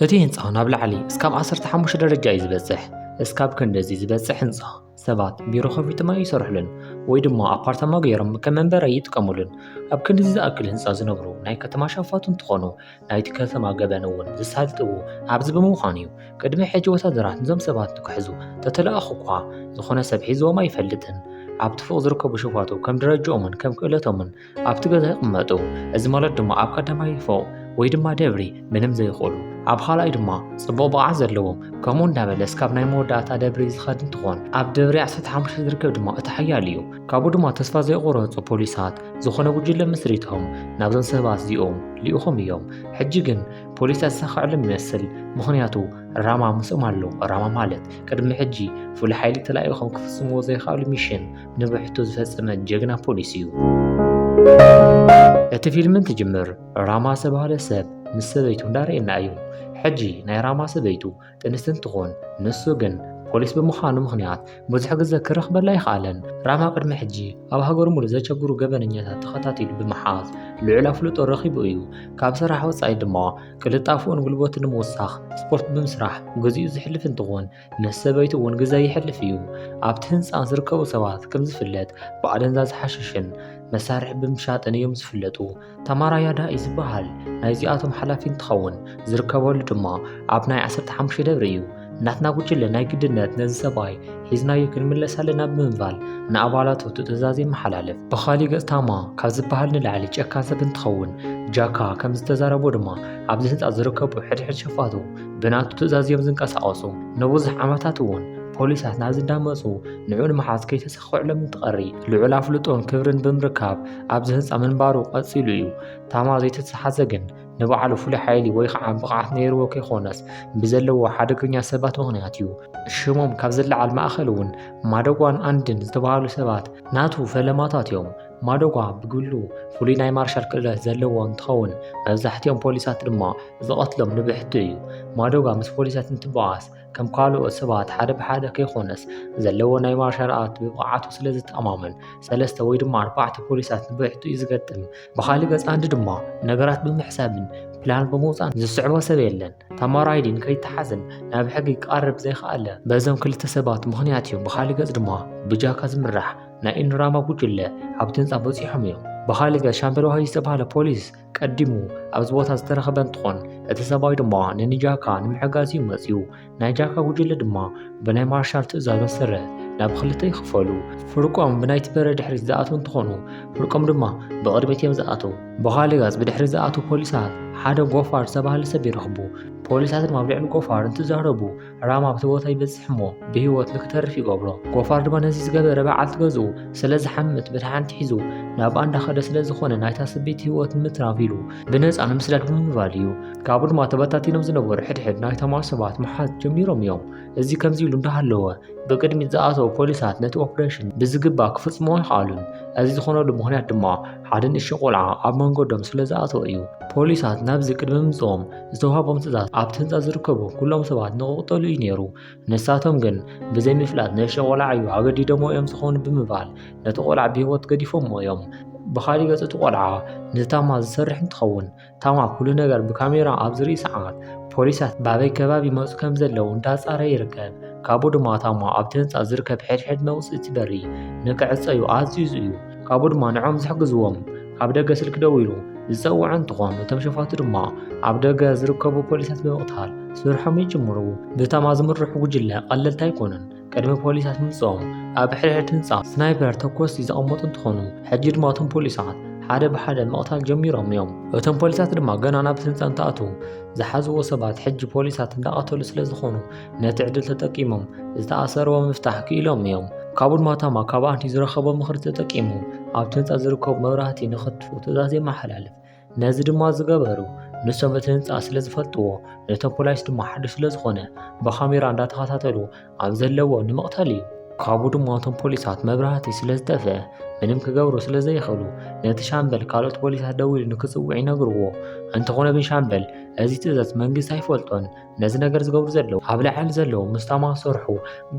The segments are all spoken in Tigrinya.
እቲ ህንፃ ናብ ላዕሊ እስካብ 15 ደረጃ እዩ ዝበፅሕ እስካብ ክንደዚ ዝበፅሕ ህንፃ ሰባት ቢሮ ከፊትማ ይሰርሕሉን ወይ ድማ ኣፓርታማ ገይሮም ከም መንበሪ ይጥቀሙሉን ኣብ ክንድዚ ዝኣክል ህንፃ ዝነብሩ ናይ ከተማ ሸፋቱ እንትኾኑ ናይቲ ከተማ ገበን እውን ዝሳልጥዎ ኣብዚ ብምዃኑ እዩ ቅድሚ ሕጂ ወታደራት ንዞም ሰባት ንክሕዙ ተተለኣኹ እኳ ዝኾነ ሰብ ሒዝዎም ኣይፈልጥን ኣብቲ ፎቅ ዝርከቡ ሸፋቱ ከም ደረጃኦምን ከም ክእለቶምን ኣብቲ ገዛ ይቕመጡ። እዚ ማለት ድማ ኣብ ቀዳማይ ፎቕ ወይ ድማ ደብሪ ምንም ዘይኽእሉ ኣብ ኻልኣይ ድማ ጽቡቕ ብቕዓት ዘለዎም ከምኡ እንዳበለስ ካብ ናይ መወዳእታ ደብሪ ዝኸድ እንትኾን ኣብ ደብሪ 15 ዝርከብ ድማ እቲ ሓያል እዩ ካብኡ ድማ ተስፋ ዘይቆረፁ ፖሊሳት ዝኾነ ጉጅለ ምስሪቶም ናብዞም ሰባት እዚኦም ልኢኾም እዮም ሕጂ ግን ፖሊስ ኣሳኽዕሎም ይመስል ምኽንያቱ ራማ ምስኦም ኣሎ ራማ ማለት ቅድሚ ሕጂ ፍሉይ ሓይሊ ተላኢኾም ክፍጽምዎ ዘይኽኣሉ ሚሽን ንብሕቱ ዝፈጸመ ጀግና ፖሊስ እዩ። እቲ ፊልም እንትጅምር ራማ ዝተባህለ ሰብ ምስ ሰበይቱ እንዳርኤና እዩ። ሕጂ ናይ ራማ ሰበይቱ ጥንስቲ እንትኾን ንሱ ግን ፖሊስ ብምዃኑ ምኽንያት ብዙሕ ግዘ ክረኽበላ ኣይኸኣለን። ራማ ቅድሚ ሕጂ ኣብ ሃገሩ ሙሉእ ዘቸግሩ ገበነኛታት ተኸታቲሉ ብምሓዝ ልዑል ኣፍልጦ ረኺቡ እዩ። ካብ ስራሕ ወፃኢ ድማ ቅልጣፍኡን ጉልበቱን ንምውሳኽ ስፖርት ብምስራሕ ግዚኡ ዘሕልፍ እንትኾን ምስ ሰበይቱ እውን ግዘ ይሕልፍ እዩ። ኣብቲ ህንፃ ዝርከቡ ሰባት ከምዝፍለጥ ብኣደንዛዝ ሓሽሽን መሳርሒ ብምሻጥን እዮም ዝፍለጡ። ታማራ ያዳ እዩ ዝበሃል ናይዚኣቶም ሓላፊ እንትኸውን ዝርከበሉ ድማ ኣብ ናይ 15 ደብሪ እዩ። ናትና ጉጅለ ናይ ግድነት ነዚ ሰብኣይ ሒዝናዮ ክንምለስ ኣለና ብምባል ንኣባላቱ ትእዛዝ የመሓላልፍ። ብኻሊእ ገፅ ታማ ካብ ዝበሃል ንላዕሊ ጨካን ሰብ እንትኸውን ጃካ ከምዝተዛረቦ ድማ ኣብዚ ህንፃ ዝርከቡ ሕድሕድ ሸፋቱ ብናቱ ትእዛዝ እዮም ዝንቀሳቐሱ። ንብዙሕ ዓመታት እውን ፖሊሳት ናብ ዝዳመፁ ንዑ ንምሓዝ ከይተሰክዕሎም እንትቐሪ ልዑል ኣፍልጦን ክብርን ብምርካብ ኣብዚ ህንፃ ምንባሩ ቀፂሉ እዩ። ታማ ዘይተተሓዘ ግን ንባዕሉ ፍሉይ ሓይሊ ወይ ከዓ ብቕዓት ነይርዎ ከይኮነስ ብዘለዎ ሓደገኛ ሰባት ምኽንያት እዩ። ሽሞም ካብ ዝለዓል ማእኸል እውን ማደጓን ኣንድን ዝተባሃሉ ሰባት ናቱ ፈለማታት እዮም። ማዶጓ ብግሉ ፍሉይ ናይ ማርሻል ክእለት ዘለዎ እንትኸውን መብዛሕትኦም ፖሊሳት ድማ ዝቐትሎም ንብሕቱ እዩ። ማዶጓ ምስ ፖሊሳት እንትበኣስ ከም ካልኦት ሰባት ሓደ ብሓደ ከይኮነስ ዘለዎ ናይ ማርሻል ኣርት ብብቕዓቱ ስለ ዝተኣማመን ሰለስተ ወይ ድማ ኣርባዕተ ፖሊሳት ንብሕቱ እዩ ዝገጥም። ብኻሊእ ገፅ ኣንዲ ድማ ነገራት ብምሕሳብን ፕላን ብምውፃን ዝስዕቦ ሰብ የለን። ታማራይዲን ከይተሓዝን ናብ ሕጊ ክቐርብ ዘይከኣለ በዞም ክልተ ሰባት ምኽንያት እዩ። ብኻሊእ ገፅ ድማ ብጃካ ዝምራሕ ናይ ኢንራማ ጉጅለ ኣብቲ ህንፃ በፂሖም እዮም። ብኻሊእ ገፅ ሻምበል ዋሂ ዝተባህለ ፖሊስ ቀዲሙ ኣብዚ ቦታ ዝተረኸበ እንትኾን እቲ ሰብኣይ ድማ ንንጃካ ንምሕጋዝ እዩ መፅዩ። ናይ ጃካ ጉጅለ ድማ ብናይ ማርሻል ትእዛዝ መሰረት ናብ ክልተ ይኽፈሉ። ፍርቆም ብናይቲ በረ ድሕሪት ዝኣትው እንትኾኑ ፍርቆም ድማ ብቕድሚት እዮም ዝኣትው። ብኻሊእ ገፅ ብድሕሪ ዝኣትው ፖሊሳት ሓደ ጎፋር ዝተባህለ ሰብ ይረኽቡ። ፖሊሳት ድማ ኣብ ልዕሊ ጎፋር እንትዛረቡ ራም ኣብቲ ቦታ ይበጽሕ እሞ ብህይወት ንክተርፍ ይገብሮ ጎፋር ድማ ነዚ ዝገበረ በዓልቲ ገዝኡ ስለ ዝሓምት በታ ሓንቲ ሒዙ ናብ ኣንዳ ከደ ስለ ዝኾነ ናይታ ስበይቲ ህይወት ንምትራፍ ኢሉ ብነፃ ንምስዳድ ብምባል እዩ ካብኡ ድማ ተበታቲኖም ዝነበሩ ሕድሕድ ናይቶም ኣሰባት ምሓዝ ጀሚሮም እዮም እዚ ከምዚ ኢሉ እንዳሃለወ ብቅድሚት ዝኣተው ፖሊሳት ነቲ ኦፕሬሽን ብዝግባ ክፍጽሞ ኣይኸኣሉን እዚ ዝኾነሉ ምክንያት ድማ ሓደ ንእሽቶ ቆልዓ ኣብ መንገዶም ስለ ዝኣተወ እዩ ፖሊሳት ናብዚ ቅድሚ ምምፅኦም ዝተውሃቦም ትእዛዝ ኣብቲ ህንፃ ዝርከቡ ኩሎም ሰባት ንክቕጠሉ እዩ ነይሩ። ንሳቶም ግን ብዘይምፍላጥ ንእሽቶ ቆልዓ እዩ ኣገዲዶሞ እዮም ዝኾኑ ብምባል ነቲ ቆልዓ ብህይወት ገዲፎሞ እዮም። ብኻሊእ ገፅ እቲ ቆልዓ ነቲ ታማ ዝሰርሕ እንትኸውን ታማ ኩሉ ነገር ብካሜራ ኣብ ዝርኢ ሰዓት ፖሊሳት ባበይ ከባቢ ይመፁ ከም ዘለዉ እንዳፃረ ይርከብ። ካብኡ ድማ ታማ ኣብቲ ህንፃ ዝርከብ ሕድሕድ መውፅእቲ በሪ ንክዕፀዩ ኣዚዙ እዩ። ካብኡ ድማ ንዖም ዝሕግዝዎም ኣብ ደገ ስልኪ ደዊሉ ዝፀውዐ እንትኾን እቶም ሸፋቱ ድማ ኣብ ደገ ዝርከቡ ፖሊሳት ብምቕታል ስርሖም ይጅምሩ። ብታማ ዝምርሑ ጉጅለ ቀለልቲ ኣይኮኑን። ቅድሚ ፖሊሳት ምምፅኦም ኣብ ሕድሕድ ህንፃ ስናይፐር ተኮስቲ ዘቐመጡ እንትኾኑ ሕጂ ድማ እቶም ፖሊሳት ሓደ ብሓደ ምቕታል ጀሚሮም እዮም። እቶም ፖሊሳት ድማ ገና ናብ ህንፃ እንትኣትዉ ዝሓዝዎ ሰባት ሕጂ ፖሊሳት እንዳቐተሉ ስለ ዝኾኑ ነቲ ዕድል ተጠቂሞም ዝተኣሰርዎ ምፍታሕ ክኢሎም እዮም። ካቡን ማታማ ካብ ኣንቲ ዝረኸቦ ምኽሪ ተጠቂሙ ኣብቲ ህንፃ ዝርከቡ መብራህቲ ንኸጥፍኡ ትእዛዝ የመሓላልፍ። ነዚ ድማ ዝገበሩ ንሶም እቲ ህንፃ ስለ ዝፈልጥዎ ነቶም ፖላይስ ድማ ሓድሽ ስለ ዝኾነ ብካሜራ እንዳተኸታተሉ ኣብ ዘለዎ ንምቕታል እዩ። ካብኡ ድማ እቶም ፖሊሳት መብራህቲ ስለ ዝጠፍአ ምንም ክገብሩ ስለ ዘይኽእሉ ነቲ ሻምበል ካልኦት ፖሊሳት ደዊሉ ንክፅውዕ ይነግርዎ። እንተኾነ ግን ሻምበል እዚ ትእዛዝ መንግስቲ ኣይፈልጦን ነዚ ነገር ዝገብሩ ዘለዉ ኣብ ላዕሊ ዘለዉ ምስ ታማ ዝሰርሑ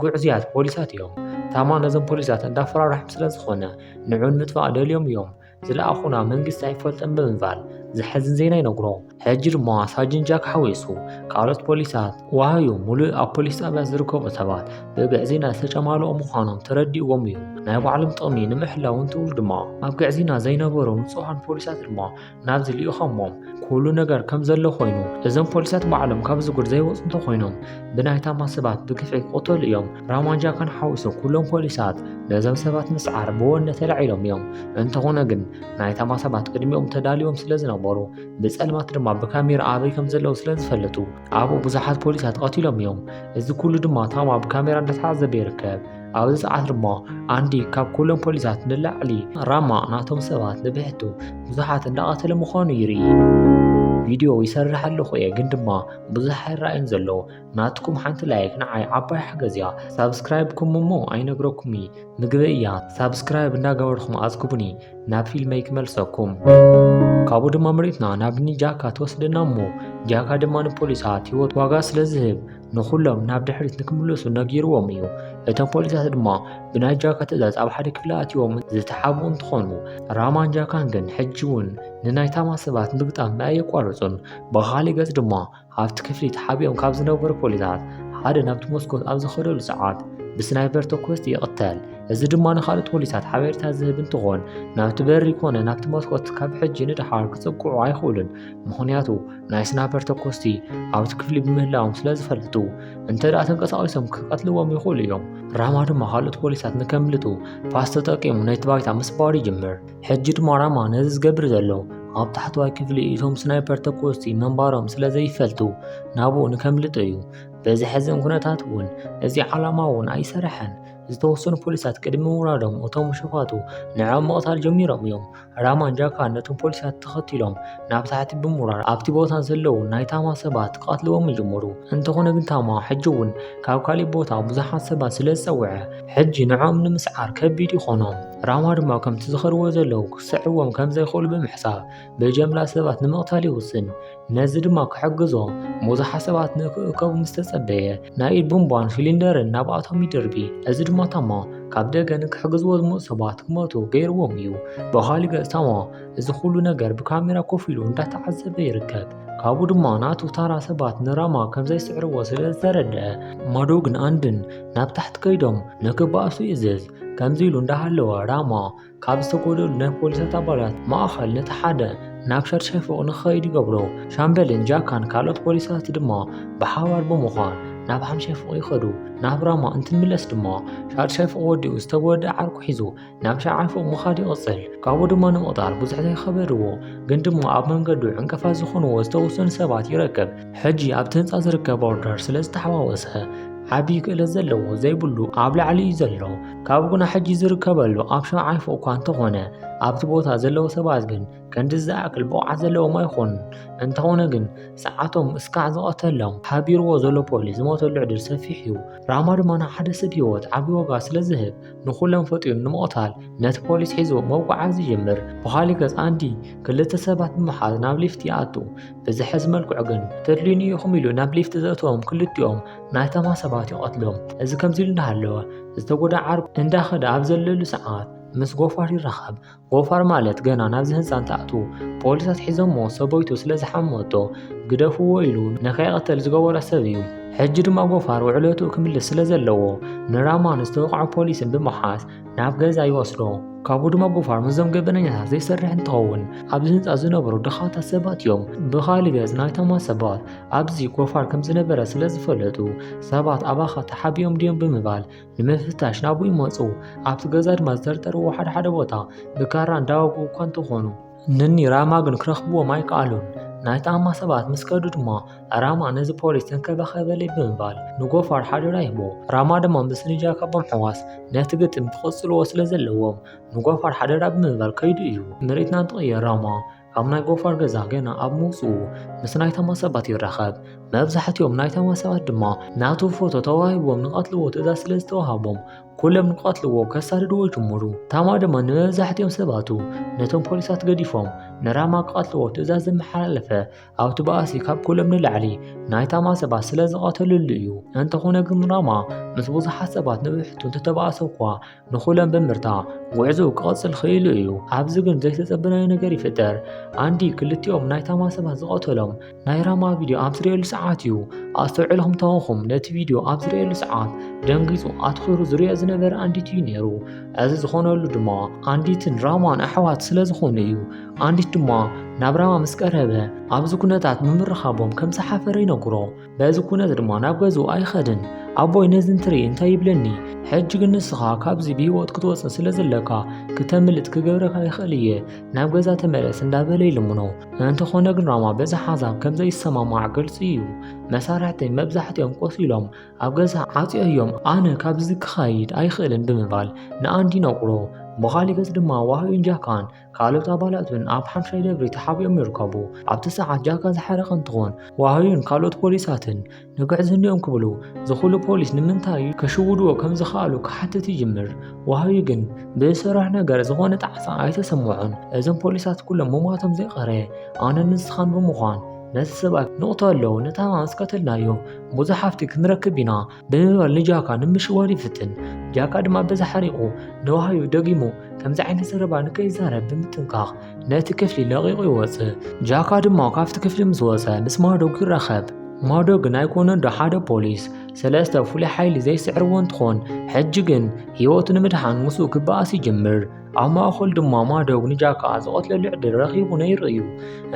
ጉዕዝያት ፖሊሳት እዮም ታማ ነዞም ፖሊሳት እንዳፈራርሖም ስለ ዝኾነ ንዑ ንምጥፋእ ደልዮም እዮም ዝለኣኹና መንግስቲ ኣይፈልጥን ብምባል ዘሐዝን ዜና ይነግሮ ሕጂ ድማ ሳጅን ጃክ ሓዊሱ ካልኦት ፖሊሳት ዋሃዩ ሙሉእ ኣብ ፖሊስ ጣብያ ዝርከቡ ሰባት ብግዕዝይና ዝተጨማልኦ ምዃኖም ተረዲእዎም እዩ ናይ ባዕሎም ጥቕሚ ንምሕላው እንትብሉ ድማ ኣብ ግዕዝይና ዘይነበሩ ንፁሃን ፖሊሳት ድማ ናብዚ ልኢኾሞም ኩሉ ነገር ከም ዘሎ ኮይኑ እዞም ፖሊሳት ባዕሎም ካብ ዝጉድ ዘይወፁ እንተኾይኖም ብናይ ታማ ሰባት ብግፍዒ ክቕተሉ እዮም። ራማንጃ ከንሓውሶ ኩሎም ፖሊሳት ነዞም ሰባት ምስዓር ብወነ ተላዒሎም እዮም። እንተኾነ ግን ናይ ታማ ሰባት ቅድሚኦም ተዳልዮም ስለ ዝነበሩ ብፀልማት ድማ ብካሜራ ኣበይ ከም ዘለዉ ስለ ዝፈለጡ ኣብኡ ብዙሓት ፖሊሳት ተቐቲሎም እዮም እዚ ኩሉ ድማ ታም ኣብ ካሜራ እንዳተዓዘበ ይርከብ ኣብዚ ሰዓት ድማ ኣንዲ ካብ ኩሎም ፖሊሳት ንላዕሊ ራማ ናቶም ሰባት ንብሕቱ ብዙሓት እንዳቐተለ ምዃኑ ይርኢ ቪድዮ ይሰርሕ ኣለኹ እየ ግን ድማ ብዙሕ ኣይረኣይን ዘሎ ናትኩም ሓንቲ ላይክ ንዓይ ዓባይ ሓገዝ እያ ሳብስክራይብኩም እሞ ኣይነግረኩም ምግበ እያ ሳብስክራይብ እንዳገበርኩም ኣዝግቡኒ ናብ ፊልመይ ክመልሰኩም ካብኡ ድማ መሬትና ናብ እኒ ጃካ ትወስደና እሞ ጃካ ድማ ንፖሊሳት ህይወት ዋጋ ስለ ዝህብ ንኹሎም ናብ ድሕሪት ንክምለሱ ነጊርዎም እዩ እቶም ፖሊሳት ድማ ብናይ ጃካ ትእዛዝ ኣብ ሓደ ክፍሊ ኣትዮም ዝተሓብኡ እንትኾኑ ራማን ጃካን ግን ሕጂ እውን ንናይ ታማ ሰባት ምግጣም ኣየቋርፁን ብኻሊእ ገፅ ድማ ኣብቲ ክፍሊ ተሓቢኦም ካብ ዝነበሩ ፖሊሳት ሓደ ናብቲ መስኮት ኣብ ዝኸደሉ ሰዓት ብስናይበር ተኮስቲ ይቕተል። እዚ ድማ ንካልኦት ፖሊሳት ሓበሬታ ዝህብ እንትኾን ናብቲ በሪ ኮነ ናብቲ መስኮት ካብ ሕጂ ንደሓር ክጽግዑ ኣይኽእሉን። ምኽንያቱ ናይ ስናይበር ተኮስቲ ኣብቲ ክፍሊ ብምህላዎም ስለ ዝፈልጡ እንተ ደኣ ተንቀሳቒሶም ክቀትልዎም ይኽእሉ እዮም። ራማ ድማ ካልኦት ፖሊሳት ንከምልጡ ፓስ ተጠቂሙ ነቲ ባይታ ምስባር ይጅምር። ሕጂ ድማ ራማ ነዚ ዝገብር ዘሎ ኣብ ታሕተዋይ ክፍሊ እቶም ስናይፐር ተኮስቲ ምንባሮም ስለ ዘይፈልጡ ናብኡ ንከምልጡ እዩ። በዚ ሕዝን ኩነታት እውን እዚ ዓላማ እውን ኣይሰርሐን። ዝተወሰኑ ፖሊሳት ቅድሚ ምውራዶም እቶም ሸፋቱ ንዕኦም ምቕታል ጀሚሮም እዮም። ራማን ጃካን ነቶም ፖሊሳት ተኸቲሎም ናብ ታሕቲ ብምውራር ኣብቲ ቦታ ዘለዉ ናይ ታማ ሰባት ክቐትልዎም ይጀመሩ። እንተኾነ ግን ታማ ሕጂ እውን ካብ ካሊእ ቦታ ብዙሓት ሰባት ስለ ዝጸውዐ ሕጂ ንዕኦም ንምስዓር ከቢድ ይኾኖም። ራማ ድማ ከምቲ ዝኸርዎ ዘለዉ ክስዕዎም ከም ዘይኽእሉ ብምሕሳብ ብጀምላ ሰባት ንምቕታል ይውስን ነዚ ድማ ክሕግዞ ብዙሓት ሰባት ንክእከቡ ምስ ተጸበየ ናይ ኢድ ቡምቧን ሲሊንደርን ናብኣቶም ይድርቢ እዚ ድማ ታሞ ካብ ደገ ንክሕግዝዎ ዝመፁ ሰባት ክመቱ ገይርዎም እዩ ብኻሊ ገጽ ታሞ እዚ ኩሉ ነገር ብካሜራ ኮፍ ኢሉ እንዳተዓዘበ ይርከብ ካብኡ ድማ ናቱ ታራ ሰባት ንራማ ከም ዘይስዕርዎ ስለ ዝተረድአ ማዶ ግን ኣንድን ናብ ታሕቲ ከይዶም ንክበኣሱ ይእዝዝ ከምዚ ኢሉ እንዳሃለወ ራማ ካብ ዝተጎደሉ ናይ ፖሊሳት ኣባላት ማእኸል ነቲ ሓደ ናብ ሻድሻይ ፎቕ ንክኸይድ ይገብሮ ሻምበልን ጃካን ካልኦት ፖሊሳት ድማ ብሓባር ብምዃን ናብ ሓምሻይ ፎቕ ይኸዱ ናብ ራማ እንትንምለስ ድማ ሻድሻይ ፎቕ ወዲኡ ዝተጎደ ዓርኩ ሒዙ ናብ ሻዓይ ፎቕ ምኻድ ይቕፅል ካብኡ ድማ ንምቕጣር ብዙሕ ዘይከበድዎ ግን ድማ ኣብ መንገዱ ዕንቀፋት ዝኾንዎ ዝተወሰኑ ሰባት ይረክብ ሕጂ ኣብቲ ህንጻ ዝርከብ ኦርደር ስለ ዝተሓዋወሰ ዓቢ ክእለት ዘለዎ ዘይብሉ ኣብ ላዕሊ እዩ ዘሎ ካብ ጉና ሕጂ ዝርከበሉ ኣብ ሸውዓይ ፎቕ እኳ እንተኾነ ኣብቲ ቦታ ዘለዉ ሰባት ግን ከንዲ ዝኣክል ብቕዓት ዘለዎም ኣይኾኑን እንተኾነ ግን ሰዓቶም እስካዕ ዝቐተሎም ሓቢርዎ ዘሎ ፖሊስ ዝሞተሉ ዕድል ሰፊሕ እዩ ራማ ድማ ንሓደ ሰብ ህይወት ዓቢ ዋጋ ስለ ዝህብ ንኹሎም ፈጢሩ ንምቕታል ነቲ ፖሊስ ሒዙ መውቃዓ ዝጅምር ብኻሊ ገጽ ኣንዲ ክልተ ሰባት ብምሓዝ ናብ ሊፍት ይኣቱ ብዝሕዝ መልክዑ ግን ተድልዩኒ ኢኹም ኢሉ ናብ ሊፍት ዘእተዎም ክልቲኦም ናይታማ ሰባት ይቐትሎም። እዚ ከምዚ ኢሉ እንዳሃለወ ዝተጎዳ ዓርኩ እንዳኸደ ኣብ ዘለሉ ሰዓት ምስ ጎፋር ይራኸብ። ጎፋር ማለት ገና ናብዚ ህንፃ እንትኣትዉ ፖሊሳት ሒዞሞ ሰበይቱ ስለ ዝሓመቶ ግደፍዎ ኢሉ ንከይቐተል ዝገበሮ ሰብ እዩ። ሕጂ ድማ ጎፋር ውዕለትኡ ክምልስ ስለ ዘለዎ ንራማን ዝተወቕዐ ፖሊስን ብምሓዝ ናብ ገዛ ይወስዶ ካብኡ ድማ ብፋር ምስዞም ገበነኛታት ዘይሰርሕ እንትኸውን ኣብዚ ህንፃ ዝነበሩ ድኻታት ሰባት እዮም ብኻሊእ ገፅ ናይቶም ሰባት ኣብዚ ጎፋር ከም ዝነበረ ስለ ዝፈለጡ ሰባት ኣባኻ ተሓቢኦም ድዮም ብምባል ንምፍታሽ ናብኡ ይመፁ ኣብቲ ገዛ ድማ ዝተርጠርዎ ሓደ ሓደ ቦታ ብካራ እንዳወግኡ እኳ እንተኾኑ ንኒ ራማ ግን ክረኽብዎም ኣይከኣሉን። ናይ ጣማ ሰባት ምስ ከዱ ድማ ራማ ነዚ ፖሊስ ተንከባኸበለይ ብምባል ንጎፋር ሓደራ ይህቦ። ራማ ድማ ምስ ንጃ ካብ ምሕዋስ ነቲ ግጥም ክቕጽልዎ ስለ ዘለዎም ንጎፋር ሓደራ ብምባል ከይዱ እዩ። ምርኢትና እንትቕየር ራማ ካብ ናይ ጎፋር ገዛ ገና ኣብ ምውጽኡ ምስ ናይ ታማ ሰባት ይራኸብ። መብዛሕትኦም ናይ ታማ ሰባት ድማ ናቱ ፎቶ ተዋሂብዎም ንቐትልዎ ትእዛዝ ስለ ዝተዋህቦም ኩሎም ንቐትልዎ ከሳድድዎ ጅምሩ። ታማ ድማ ንመብዛሕትኦም ሰባቱ ነቶም ፖሊሳት ገዲፎም ንራማ ክቐትልዎ ትእዛዝ ዘመሓላለፈ ኣብቲ ባእሲ ካብ ኩሎም ንላዕሊ ናይ ታማ ሰባት ስለ ዝቐተልሉ እዩ። እንተኾነ ግን ራማ ምስ ብዙሓት ሰባት ንብሕቱ እንተተባእሰ እኳ ንኹሎም ብምርታ ጉዕዞ ክቐጽል ክኢሉ እዩ። ኣብዚ ግን ዘይተጸበናዮ ነገር ይፍጠር። ኣንዲ ክልቲኦም ናይ ታማ ሰባት ዝቐተሎም ናይ ራማ ቪድዮ ኣብ ዝርእየሉ ሰዓት እዩ ኣስተውዕልኹም ተወኹም ነቲ ቪድዮ ኣብ ዝርእየሉ ሰዓት ደንጊጹ ኣትኺሩ ዝርኦ ዝነበረ ኣንዲት እዩ ነይሩ እዚ ዝኾነሉ ድማ ኣንዲትን ራማን ኣሕዋት ስለ ዝኾኑ እዩ ኣንዲት ድማ ናብ ራማ ምስ ቀረበ ኣብዚ ኩነታት ምምርኻቦም ከም ዝሓፈረ ይነግሮ በዚ ኩነት ድማ ናብ ገዝኡ ኣይኸድን ኣቦይ ነዚ እንትርኢ እንታይ ይብለኒ ሕጂ ግን ንስኻ ካብዚ ብህይወት ክትወፅእ ስለ ዘለካ ክተምልጥ ክገብረካ ይኽእል እየ ናብ ገዛ ተመለስ እንዳበለ ይልምኖ እንተኾነ ግን ራማ በዚ ሓሳብ ከም ዘይሰማማዕ ግልፂ እዩ። መሳርሕተይ መብዛሕትኦም ቆሲሎም ኣብ ገዛ ዓፅዮዮም ኣነ ካብዚ ክኸይድ ኣይኽእልን ብምባል ንኣንድ ይነግሮ። ብኻሊእ ገፅ ድማ ዋህዩን ጃካን ካልኦት ኣባላቱን ኣብ ሓምሻይ ደብሪ ተሓቢኦም ይርከቡ። ኣብቲ ሰዓት ጃካ ዝሓረቐ እንትኾን ዋህዩን ካልኦት ፖሊሳትን ንግዕዝንኦም ክብሉ ዝኹሉ ፖሊስ ንምንታይ ከሽውድዎ ከም ዝኸኣሉ ክሓትት ይጅምር። ወሃቢ ግን ብዝሰርሖ ነገር ዝኾነ ጣዕሳ ኣይተሰምዖን። እዞም ፖሊሳት ኩሎም ምሟቶም ዘይቀረ ኣነን ንስኻን ብምዃን ነቲ ሰብኣይ ንቕተሎ ንታማ ምስ ቀተልናዮ ብዙሕ ሃፍቲ ክንረክብ ኢና ብምባል ንጃካ ንምሽዋድ ይፍትን። ጃካ ድማ በዚ ሓሪቑ ንወሃቢ ደጊሙ ከምዚ ዓይነት ዘረባ ንከይዛረብ ብምጥንቃቕ ነቲ ክፍሊ ለቒቑ ይወጽእ ጃካ ድማ ካብቲ ክፍሊ ምስ ወጸ ምስ ማዶግ ይራኸብ ማዶግን ኣይኮነን ዶ ሓደ ፖሊስ ሰለስተ ፍሉይ ሓይሊ ዘይስዕርዎ እንትኾን ሕጂ ግን ህይወቱ ንምድሓን ምስኡ ክበኣስ ይጅምር ኣብ ማእኸሉ ድማ ማዶግ ንጃካ ዝቐትለሉ ዕድል ረኺቡ ነይሩ እዩ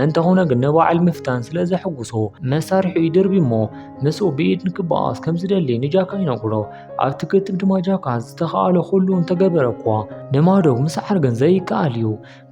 እንተኾነ ግን ንበዓል ምፍታን ስለ ዘሕጉሶ መሳርሒኡ ይድርቢ እሞ ምስኡ ብኢድ ንክበኣስ ከም ዝደሊ ንጃካ ይነግሮ ኣብቲ ግጥም ድማ ጃካ ዝተኸኣሎ ኩሉ እንተገበረ እኳ ንማዶብ ምስዓር ግን ዘይከኣል እዩ።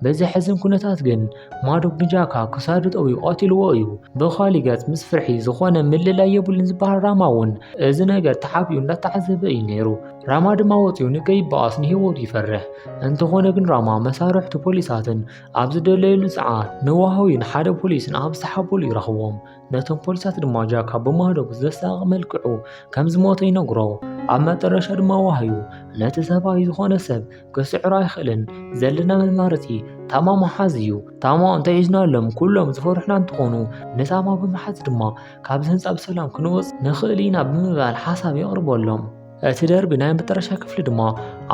በዚ ሕዝን ኩነታት ግን ማዶብ ንጃካ ክሳዱ ጠውዩ ቀትልዎ እዩ። ብኻሊእ ገጽ ምስ ፍርሒ ዝኾነ ምልላይ የብሉን ዝበሃል ራማ እውን እዚ ነገር ተሓቢኡ እንዳተዓዘበ እዩ ነይሩ። ራማ ድማ ወፂኡ ንከይበኣስ ንህይወቱ ይፈርሕ። እንተኾነ ግን ራማ መሳርሕቱ ፖሊሳትን ኣብ ዝደለየሉ ሰዓት ንዋህዊን ሓደ ፖሊስን ኣብ ዝተሓበሉ ይረኽቦም። ነቶም ፖሊሳት ድማ ጃካ ብማህዶ ብዘሳቂ መልክዑ ከም ዝሞተ ይነግሮ ኣብ መጠረሻ ድማ ዋህዩ ነቲ ሰብኣይ ዝኾነ ሰብ ክስዕሮ ኣይኽእልን ዘለና መማረፂ ታማ መሓዝ እዩ ታማ እንተሒዝናሎም ኩሎም ዝፈርሑና እንትኾኑ ንታማ ብምሓዝ ድማ ካብዚ ህንፃ ብሰላም ክንወፅ ንኽእል ኢና ብምባል ሓሳብ የቕርበሎም እቲ ደርቢ ናይ መጠረሻ ክፍሊ ድማ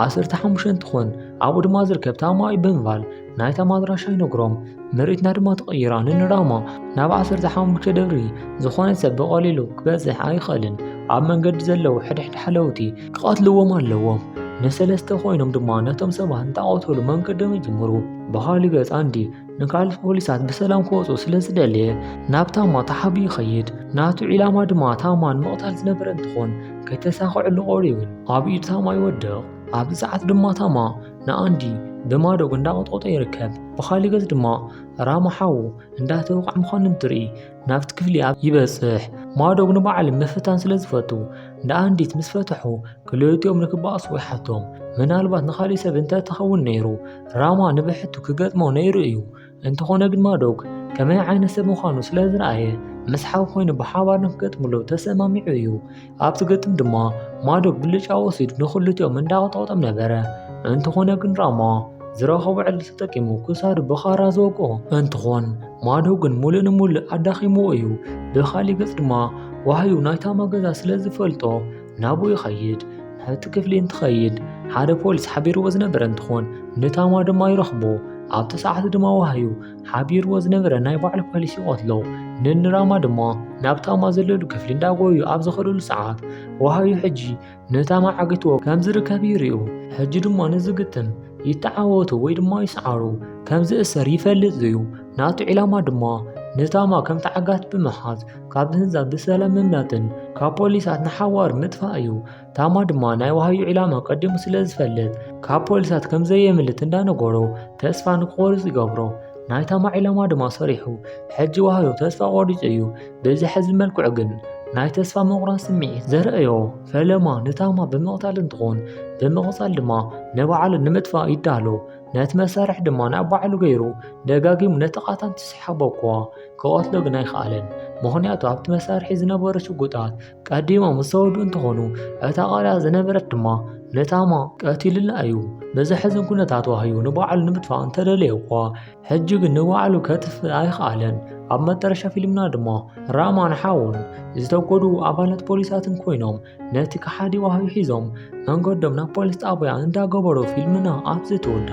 ዓሰርተ ሓሙሽተ እንትኾን ኣብኡ ድማ ዝርከብ ታማዊ ብምባል ናይ ታማድራሻ ይነግሮም ምርኢትና ድማ ተቐይራ ንንራማ ናብ ዓሰርተ ሓሙሽተ ደብሪ ዝኾነ ሰብ ብቐሊሉ ክበፅሕ ኣይኽእልን ኣብ መንገዲ ዘለዉ ሕድሕድ ሓለውቲ ክቐትልዎም ኣለዎም ንሰለስተ ኮይኖም ድማ ነቶም ሰባት እንተቐተሉ መንገዶም ይጅምሩ በሃሊ ገፅ ኣንዲ ንካልእ ፖሊሳት ብሰላም ክወፁ ስለ ዝደለየ ናብ ታማ ተሓቢ ይኸይድ ናቱ ዒላማ ድማ ታማን ምቕታል ዝነበረ እንትኾን ከይተሳኸዐሉ ቆሪዩ ግን ኣብ ኢድ ታማ ይወድቕ ኣብዚ ሰዓት ድማ ታማ ንኣንዲ ብማዶግ እንዳቆጥቆጦ ይርከብ ብኻሊእ ገፅ ድማ ራማ ሓዉ እንዳተወቕዐ ምዃኑ እንትርኢ ናብቲ ክፍሊ ኣብ ይበጽሕ ማዶግ ንባዕሉ ምፍታን ስለ ዝፈቱ ንኣንዲት ምስ ፈትሑ ክልቲኦም ንክባእሱ ይሓቶም ምናልባት ንካሊእ ሰብ እንተ ተኸውን ነይሩ ራማ ንብሕቱ ክገጥሞ ነይሩ እዩ እንተኾነ ግን ማዶግ ከመይ ዓይነት ሰብ ምዃኑ ስለ ዝረኣየ ምስ ሓው ኮይኑ ብሓባር ንክገጥምሉ ተሰማሚዑ እዩ ኣብቲ ግጥም ድማ ማዶብ ብልጫ ወሲዱ ንክልቲኦም እንዳቐጠቐጦም ነበረ። እንተኾነ ግን ራማ ዝረኸቦ ዕድል ተጠቂሙ ክሳዱ ብኻራ ዝወግኦ እንትኾን ማዶብ ግን ሙሉእ ንሙሉእ ኣዳኺምዎ እዩ። ብኻሊእ ገፅ ድማ ዋህዩ ናይ ታማ ገዛ ስለ ዝፈልጦ ናብኡ ይኸይድ። ናብቲ ክፍሊ እንትኸይድ ሓደ ፖሊስ ሓቢርዎ ዝነበረ እንትኾን ንታማ ድማ ይረኽቦ። ኣብቲ ሰዓት ድማ ዋህዩ ሓቢርዎ ዝነበረ ናይ ባዕሉ ፖሊሲ ይቐትሎ ንንራማ ድማ ናብቲ ኣማ ዘለሉ ክፍሊ እንዳጎዩ ኣብ ዝኸደሉ ሰዓት ወሃዩ ሕጂ ነታማ ዓግትዎ ከም ዝርከብ ይርዩ ሕጂ ድማ ንዝግጥም ይተዓወቱ ወይ ድማ ይስዓሩ ከም ዝእሰር ይፈልጥ እዩ ናቱ ዒላማ ድማ ነታማ ከም ተዓጋት ብምሓዝ ካብ ህንዛ ብሰላም ምምላጥን ካብ ፖሊሳት ንሓዋር ምጥፋእ እዩ ታማ ድማ ናይ ዋህዩ ዒላማ ቀዲሙ ስለ ዝፈልጥ ካብ ፖሊሳት ከም ዘየምልት እንዳነገሮ ተስፋ ንክቆርጽ ይገብሮ ናይ ታማ ዒላማ ድማ ሰሪሑ ሕጂ ዋህዮ ተስፋ ቆሪጹ እዩ በዚ ሕዚ መልክዑ ግን ናይ ተስፋ ምቑራጽ ስምዒት ዘርእዮ ፈለማ ንታማ ብምቕታል እንትኾን ብምቕጻል ድማ ንባዕሉ ንምጥፋእ ይዳሎ ነቲ መሳርሒ ድማ ናብ ባዕሉ ገይሩ ደጋጊሙ ነቲ ቃታን ትስሓቦ እኳ ክቐትሎ ግን ኣይከኣለን ምኽንያቱ ኣብቲ መሳርሒ ዝነበሩ ሽጉጣት ቀዲሞም ዝተወዱ እንትኾኑ እታ ቃልያ ዝነበረት ድማ ነታማ ቀቲልላ እዩ ብዘሕዝን ኩነታት ዋህዩ ንባዕሉ ንምጥፋእ እንተደለየ እኳ ሕጂ ግን ንባዕሉ ከትፍ ኣይኽኣለን ኣብ መጠረሻ ፊልምና ድማ ራማን ሓውን ዝተጎዱ ኣባላት ፖሊሳትን ኮይኖም ነቲ ከሓዲ ዋህዩ ሒዞም መንገዶም ናብ ፖሊስ ጣብያ እንዳገበሩ ፊልምና ኣብዚ ትውዳ